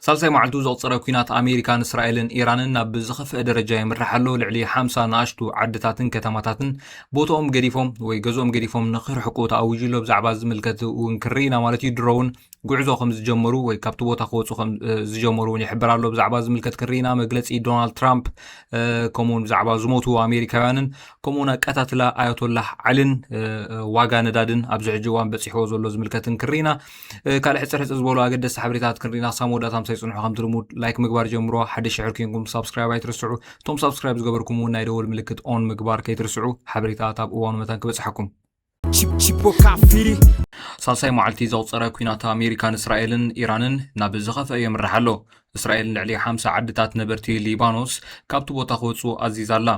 ሳልሳይ መዓልቱ ዘቑፀረ ኲናት ኣሜሪካን እስራኤልን ኢራንን ናብ ዝኸፍአ ደረጃ የምርሕ ኣሎ። ልዕሊ ሓምሳ ንኣሽቱ ዓድታትን ከተማታትን ቦትኦም ገዲፎም ወይ ገዝኦም ገዲፎም ንክርሕቁ ተኣዊጁ ኣሎ። ብዛዕባ ዝምልከት እውን ክርኢና ማለት እዩ ድሮውን ጉዕዞ ከም ዝጀመሩ ወይ ካብቲ ቦታ ክወፁ ከም ዝጀመሩ እውን ይሕብር ኣሎ። ብዛዕባ ዝምልከት ክርኢና መግለፂ ዶናልድ ትራምፕ ከምኡውን ብዛዕባ ዝሞቱ ኣሜሪካውያንን ከምኡውን ኣቀታትላ ኣያቶላህ ዓልን ዋጋ ነዳድን ኣብዚ ሕጂ እዋን በፂሕዎ ዘሎ ዝምልከትን ክርኢና ካልእ ሕጽር ሕጽር ዝበሉ ኣገደስቲ ሓበሬታት ክንሪኢና ክሳብ መወዳእታ ምሳይ ጽንሑ ከምቲ ልሙድ ላይክ ምግባር ጀምሮ ሓደ ሽሕር ኮንኩም ሳብስክራይብ ኣይትርስዑ እቶም ሳብስክራይብ ዝገበርኩም እውን ናይ ደወል ምልክት ኦን ምግባር ከይትርስዑ ሓበሬታት ኣብ እዋኑ መታን ክበጽሓኩም ሳልሳይ መዓልቲ ዘቑፀረ ኩናት ኣሜሪካን እስራኤልን ኢራንን ናብ ዝኸፍአ የምርሕ ኣሎ እስራኤል ልዕሊ ሓምሳ ዓድታት ነበርቲ ሊባኖስ ካብቲ ቦታ ክወፁ ኣዚዛ ኣላ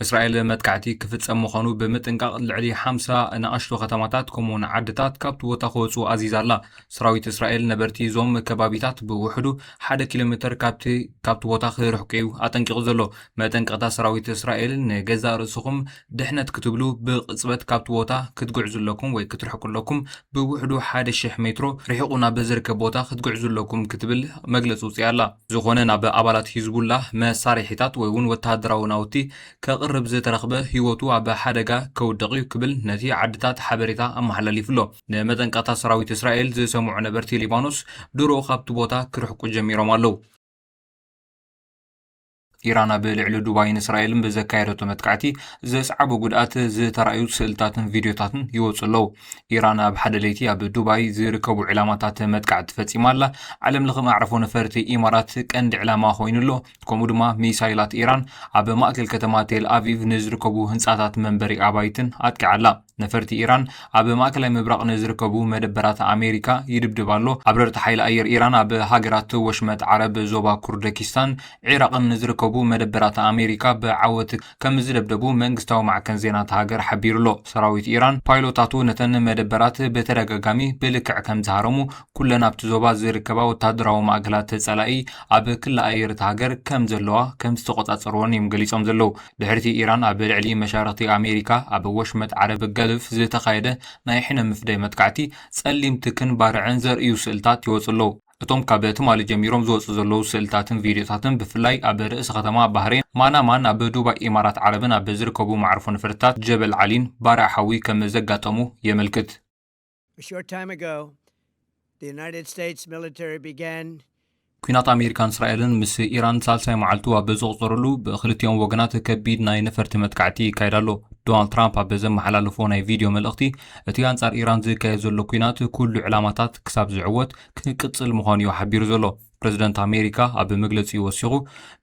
እስራኤል መጥቃዕቲ ክፍጸም ምዃኑ ብምጥንቃቕ ልዕሊ ሓምሳ ንኣሽቱ ከተማታት ከምኡውን ዓድታት ካብቲ ቦታ ክወፁ ኣዚዛ ኣላ። ሰራዊት እስራኤል ነበርቲ እዞም ከባቢታት ብውሕዱ ሓደ ኪሎ ሜተር ካብቲ ካብቲ ቦታ ክርሕቁ እዩ ኣጠንቂቑ ዘሎ። መጠንቀቕታ ሰራዊት እስራኤል ንገዛእ ርእስኹም ድሕነት ክትብሉ ብቕጽበት ካብቲ ቦታ ክትግዕዙ ኣለኩም ወይ ክትርሕቁ ኣለኩም ብውሕዱ ሓደ ሽሕ ሜትሮ ርሒቑ ናብ ዝርከብ ቦታ ክትግዕዙ ኣለኩም ክትብል መግለጺ ውጽያ ኣላ። ዝኾነ ናብ ኣባላት ሂዝቡላህ መሳርሒታት ወይ'ውን ወተሃደራዊ ናውቲ ከቕርብ ዝተረኽበ ህይወቱ ኣብ ሓደጋ ከውድቕ'ዩ ክብል ነቲ ዓድታት ሓበሬታ ኣመሓላሊፉ'ሎ። ንመጠንቀቕታ ሰራዊት እስራኤል ዝሰምዑ ነበርቲ ሊባኖስ ድሮ ካብቲ ቦታ ክርሕቁ ጀሚሮም ኣለዉ። ኢራን ኣብ ልዕሊ ዱባይን እስራኤልን ብዘካየደቶ መጥቃዕቲ ዘስዓቦ ጉድኣት ዝተራእዩ ስእልታትን ቪድዮታትን ይወፁ ኣለዉ ኢራን ኣብ ሓደ ለይቲ ኣብ ዱባይ ዝርከቡ ዕላማታት መጥቃዕቲ ፈፂማ ኣላ ዓለም ለኸ ማዕረፎ ነፈርቲ ኢማራት ቀንዲ ዕላማ ኮይኑ ኣሎ ከምኡ ድማ ሚሳይላት ኢራን ኣብ ማእከል ከተማ ቴል ኣቪቭ ንዝርከቡ ህንፃታት መንበሪ ኣባይትን ኣጥቂዓ ኣላ ነፈርቲ ኢራን ኣብ ማእከላይ ምብራቕ ንዝርከቡ መደበራት ኣሜሪካ ይድብድብ ኣሎ። ኣብረርቲ ሓይሊ ኣየር ኢራን ኣብ ሃገራት ወሽመጥ ዓረብ፣ ዞባ ኩርደኪስታን ዒራቕን ንዝርከቡ መደበራት ኣሜሪካ ብዓወት ከምዝደብደቡ መንግስታዊ ማዕከን ዜና እታ ሃገር ሓቢሩ'ሎ። ሰራዊት ኢራን፣ ፓይሎታቱ ነተን መደበራት ብተደጋጋሚ ብልክዕ ከምዝሃረሙ፣ ኩለን ኣብቲ ዞባ ዝርከባ ወተሃደራዊ ማእከላት ጸላኢ ኣብ ክሊ ኣየር እታ ሃገር ከምዘለዋ ከምዝተቖጻጸርወን እዮም ገሊጾም ዘለዉ። ድሕሪ'ቲ ኢራን ኣብ ልዕሊ መሻርኽቲ ኣሜሪካ ኣብ ወሽመጥ ዓረብ ገልፍ ዝተኻየደ ናይ ሕነ ምፍዳይ መጥቃዕቲ፣ ጸሊም ትክን ባርዕን ዘርእዩ ስእልታት ይወጹ ኣለዉ። እቶም ካብ ትማሊ ጀሚሮም ዝወጹ ዘለዉ ስእልታትን ቪድዮታትን ብፍላይ ኣብ ርእሰ ከተማ ባህሬን ማናማን ኣብ ዱባይ ኢማራት ዓረብን ኣብ ዝርከቡ መዓርፎ ነፈርትታት ጀበል ዓሊን ባርዕ ሓዊ ከም ዘጋጠሙ የመልክት። ኲናት ኣሜሪካን እስራኤልን ምስ ኢራን ሳልሳይ መዓልቱ ኣብ ዘቑፀረሉ ብክልቲኦም ወገናት ከቢድ ናይ ነፈርቲ መጥቃዕቲ ይካየድ ኣሎ። ዶናልድ ትራምፕ ኣብ ዘመሓላለፎ ናይ ቪድዮ መልእኽቲ እቲ ኣንጻር ኢራን ዝካየድ ዘሎ ኲናት ኩሉ ዕላማታት ክሳብ ዝዕወት ክቅጽል ምዃኑ እዩ ሓቢሩ ዘሎ። ፕረዚደንት ኣሜሪካ ኣብ መግለጺኡ ወሲኹ፣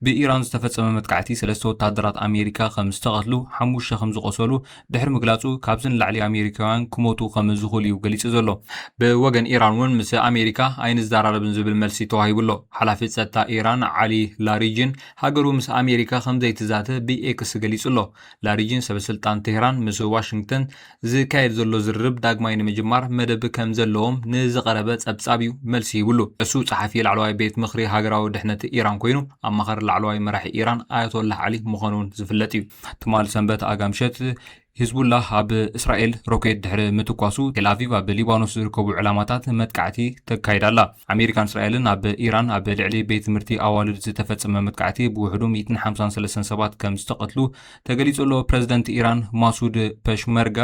ብኢራን ዝተፈጸመ መጥቃዕቲ ሰለስተ ወተሃደራት ኣሜሪካ ከም ዝተቐትሉ፣ ሓሙሽተ ከም ዝቖሰሉ ድሕሪ ምግላጹ፣ ካብዚ ንላዕሊ ኣሜሪካውያን ክሞቱ ከም ዝኽእሉ'ዩ ገሊጹ ዘሎ። ብወገን ኢራን'ውን ምስ ኣሜሪካ ኣይንዘራረብን ዝብል መልሲ ተዋሂቡ'ሎ። ሓላፊ ጸጥታ ኢራን ዓሊ ላሪጂን፣ ሃገሩ ምስ ኣሜሪካ ከም ዘይትዛተ ብኤክስ ገሊጹ'ሎ። ላሪጂን ሰበስልጣን ቴህራን ምስ ዋሽንግተን ዝካየድ ዘሎ ዝርርብ ዳግማይ ንምጅማር መደብ ከም ዘለዎም ንዝቐረበ ጸብጻብ እዩ መልሲ ሂብሉ። ዕሱብ ጸሓፊ ላዕለዋይ ቤት ምኽሪ ሃገራዊ ድሕነት ኢራን ኰይኑ፣ ኣማኻሪ ላዕለዋይ መራሒ ኢራን ኣያቶላህ ዓሊ ምዃኑ'ውን ዝፍለጥ እዩ። ትማል ሰንበት ኣጋ ምሸት፣ ሂዝቡላህ ኣብ እስራኤል ሮኬት ድሕሪ ምትኳሱ፣ ቴልኣቪቭ ኣብ ሊባኖስ ዝርከቡ ዕላማታት መጥቃዕቲ ተካይድ ኣላ። ኣመሪካን እስራኤልን ኣብ ኢራን ኣብ ልዕሊ ቤት ትምህርቲ ኣዋልድ ዝተፈጸመ መጥቃዕቲ ብውሕዱ ሚእትን ሓምሳን ሰለስተን ሰባት ከም ዝተቐትሉ ተገሊጹ ኣሎ። ፕረዚደንት ኢራን ማሱድ ፐሽመርጋ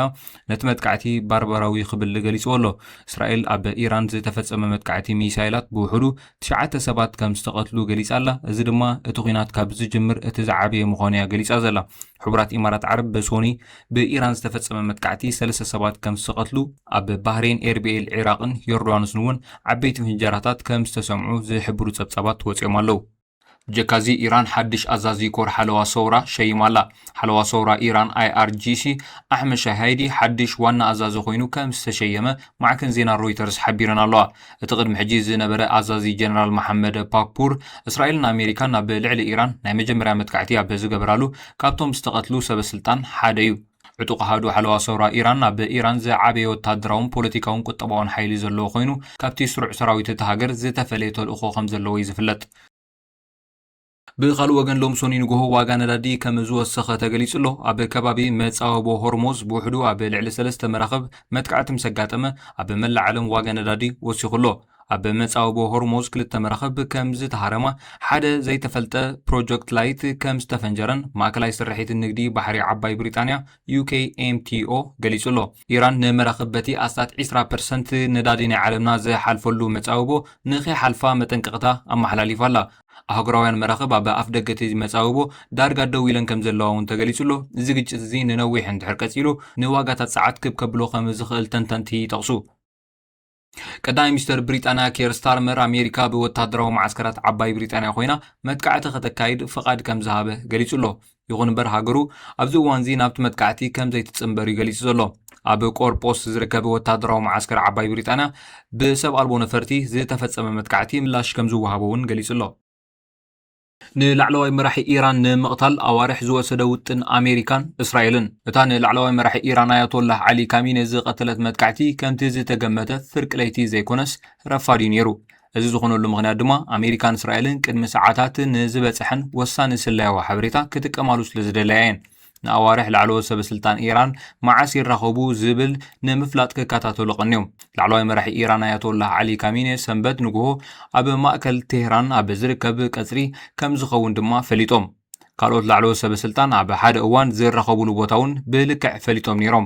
ነቲ መጥቃዕቲ ባርባራዊ ክብል ገሊጽዎ ኣሎ። እስራኤል ኣብ ኢራን ዝተፈጸመ መጥቃዕቲ ሚሳይላት ብውሕዱ ትሽዓተ ሰባት ከም ዝተቐትሉ ገሊጻ ኣላ፣ እዚ ድማ እቲ ኲናት ካብ ዝጅምር እቲ ዝዓበየ ምዃኑ'ያ ገሊጻ ዘላ። ሕቡራት ኢማራት ዓረብ ሶኑይ ብኢራን ዝተፈጸመ መጥቃዕቲ ሰለስተ ሰባት ከም ዝተቐትሉ፣ ኣብ ባህሬን፣ ኤርቢኤል፣ ዒራቕን ዮርዳኖስን'ውን ዓበይቲ ፍንጀራታት ከም ዝተሰምዑ ዝሕብሩ ጸብጻባት ወጺኦም ኣለዉ። ብጀካ'ዚ ኢራን ሓድሽ ኣዛዚ ኮር ሓለዋ ሰውራ ሸይማ ኣላ። ሓለዋ ሰውራ ኢራን፣ IRGC፣ ኣሕመድ ሻሃይዲ ሓድሽ ዋና ኣዛዚ ኮይኑ ከም ዝተሸየመ ማዕከን ዜና ሮይተርስ ሓቢረን ኣለዋ። እቲ ቅድሚ ሕጂ ዝነበረ ኣዛዚ ጀነራል መሓመድ ፓክፑር፣ እስራኤልን ኣሜሪካን ኣብ ልዕሊ ኢራን ናይ መጀመርያ መጥቃዕቲ ኣብ ዝገበራሉ ካብቶም ዝተቐትሉ ሰበስልጣን ሓደ'ዩ። ዕጡቕ ኣሃዱ ሓለዋ ሰውራ ኢራን ኣብ ኢራን ዝዓበየ ወተሃደራውን ፖለቲካውን ቁጠባውን ሓይሊ ዘለዎ ኮይኑ፣ ካብቲ ስሩዕ ሰራዊት እታ ሃገር ዝተፈለየ ተልእኾ ከም ዘለዎ እዩ ዝፍለጥ። ብኻልእ ወገን ሎሚ ሰኑይ ንጎሆ ዋጋ ነዳዲ ከም ዝወሰኸ ተገሊጹ ኣሎ። ኣብ ከባቢ መጻብቦ ሆርሞዝ ብውሕዱ ኣብ ልዕሊ ሰለስተ መራኽብ መጥቃዕቲ ምስ ኣጋጠመ፣ ኣብ መላእ ዓለም ዋጋ ነዳዲ ወሲኹ ኣሎ። ኣብ መጻብቦ ሆርሞዝ ክልተ መራኽብ ከም ዝተሃረማ፣ ሓደ ዘይተፈልጠ ፕሮጀክትላይት ከም ዝተፈንጀረን ማእከላይ ስርሒት ንግዲ ባሕሪ ዓባይ ብሪጣንያ፣ UKMTO፣ ገሊጹ'ሎ። ኢራን ንመራኽብ በቲ ኣስታት ዕስራ ፐርሰንት ነዳዲ ናይ ዓለምና ዝሓልፈሉ መጻብቦ ንኸይሓልፋ መጠንቀቕታ ኣመሓላሊፋ ኣላ። ኣህጉራውያን መራኽብ ኣብ ኣፍደገ እቲ መጻብቦ ዳርጋ ደው ኢለን ከም ዘለዋ'ውን ተገሊጹ'ሎ። እዚ ግጭት እዚ ንነዊሕ እንድሕር ቀጺሉ ንዋጋታት ጸዓት ክብ ከብሎ ከም ዝኽእል ተንተንቲ ይጠቕሱ። ቀዳማይ ሚኒስተር ብሪጣንያ ኬር ስታርመር ኣሜሪካ ብወተሃደራዊ መዓስከራት ዓባይ ብሪጣንያ ኮይና መጥቃዕቲ ከተካይድ ፍቓድ ከም ዝሃበ ገሊጹ ኣሎ። ይኹን እምበር ሃገሩ ኣብዚ እዋንዚ ናብቲ መጥቃዕቲ ከም ዘይትጽንበር እዩ ገሊጹ ዘሎ። ኣብ ቆርጶስ ዝርከብ ወተሃደራዊ መዓስከር ዓባይ ብሪጣንያ ብሰብ ኣልቦ ነፈርቲ ዝተፈጸመ መጥቃዕቲ ምላሽ ከም ዝወሃቦ እውን ገሊጹ ኣሎ። ንላዕለዋይ መራሒ ኢራን ንምቕታል ኣዋርሕ ዝወሰደ ውጥን ኣሜሪካን እስራኤልን፣ እታ ንላዕለዋይ መራሒ ኢራን ኣያቶላህ ዓሊ ካሚኔ ዝቐተለት መጥቃዕቲ ከምቲ ዝተገመተ ፍርቂ ለይቲ ዘይኮነስ ረፋድ'ዩ ነይሩ። እዚ ዝኾነሉ ምኽንያት ድማ ኣሜሪካን እስራኤልን ቅድሚ ሰዓታት ንዝበጸሐን ወሳኒ ስለያዊ ሓበሬታ ክጥቀማሉ ስለዝደለያ'የን። ንኣዋርሕ ላዕለዎት ሰበስልጣን ኢራን መዓስ ይራኸቡ ዝብል ንምፍላጥ ክከታተሉ ቀንዮም። ላዕለዋይ መራሒ ኢራን ኣያቶላህ ዓሊ ካሚኔ ሰንበት ንግሆ ኣብ ማእከል ቴህራን ኣብ ዝርከብ ቀጽሪ ከም ዝኸውን ድማ ፈሊጦም። ካልኦት ላዕለዎት ሰበስልጣን ኣብ ሓደ እዋን ዝራኸቡሉ ቦታ እውን ብልክዕ ፈሊጦም ነይሮም።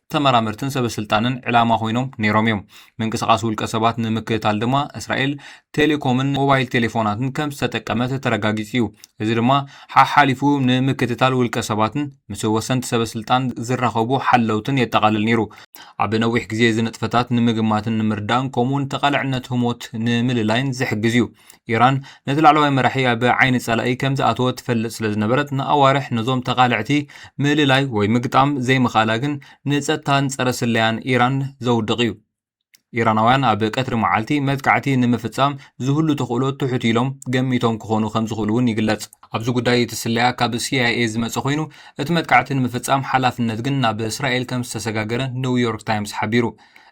ተመራመርትን ሰበስልጣንን ዕላማ ኮይኖም ነይሮም እዮም። ምንቅስቓስ ውልቀ ሰባት ንምክትታል ድማ እስራኤል ቴሌኮምን ሞባይል ቴሌፎናትን ከም ዝተጠቀመት ተረጋጊጹ እዩ። እዚ ድማ ሓሓሊፉ ንምክትታል ውልቀ ሰባትን ምስ ወሰንቲ ሰበስልጣን ዝራኸቡ ሓለውትን የጠቓልል ነይሩ። ኣብ ነዊሕ ግዜ እዚ ንጥፈታት ንምግማትን ንምርዳእን ከምኡውን ተቓላዕነት ህሞት ንምልላይን ዝሕግዝ እዩ። ኢራን ነቲ ላዕለዋይ መራሒ ኣብ ዓይኒ ጸላኢ ከም ዝኣተወ ትፈልጥ ስለ ዝነበረት ንኣዋርሕ ነዞም ተቓለዕቲ ምእልላይ ወይ ምግጣም ዘይምኽኣላ ግን ንጸጥታን ጸረ ስለያን ኢራን ዘውድቕ እዩ። ኢራናውያን ኣብ ቀትሪ መዓልቲ መጥቃዕቲ ንምፍጻም ዝህሉ ተኽእሎ ትሑት ኢሎም ገሚቶም ክኾኑ ከም ዝኽእሉ እውን ይግለጽ። ኣብዚ ጉዳይ እቲ ስለያ ካብ ሲኣይኤ ዝመጸ ኮይኑ እቲ መጥቃዕቲ ንምፍጻም ሓላፍነት ግን ናብ እስራኤል ከም ዝተሰጋገረ ኒው ዮርክ ታይምስ ሓቢሩ።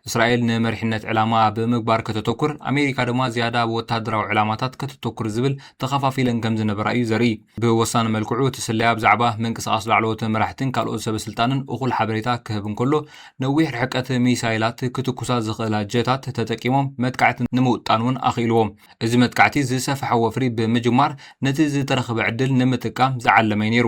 እስራኤል ንመሪሕነት ዕላማኣ ብምግባር ከተተኩር፣ ኣሜሪካ ድማ ዝያዳ ኣብ ወተሃደራዊ ዕላማታት ከተተኩር ዝብል ተኸፋፊለን ከም ዝነበራ እዩ ዘርኢ። ብወሳኒ መልክዑ እቲ ስለያ ብዛዕባ ምንቅስቓስ ላዕለዎት መራሕትን ካልኦት ሰበስልጣንን እኹል ሓበሬታ ክህብ እንከሎ፣ ነዊሕ ርሕቀት ሚሳይላት ክትኩሳ ዝኽእላ ጀታት ተጠቂሞም መጥቃዕቲ ንምውጣን እውን ኣኽኢልዎም። እዚ መጥቃዕቲ ዝሰፈሐ ወፍሪ ብምጅማር ነቲ ዝተረኽበ ዕድል ንምጥቃም ዝዓለመ'ዩ ነይሩ።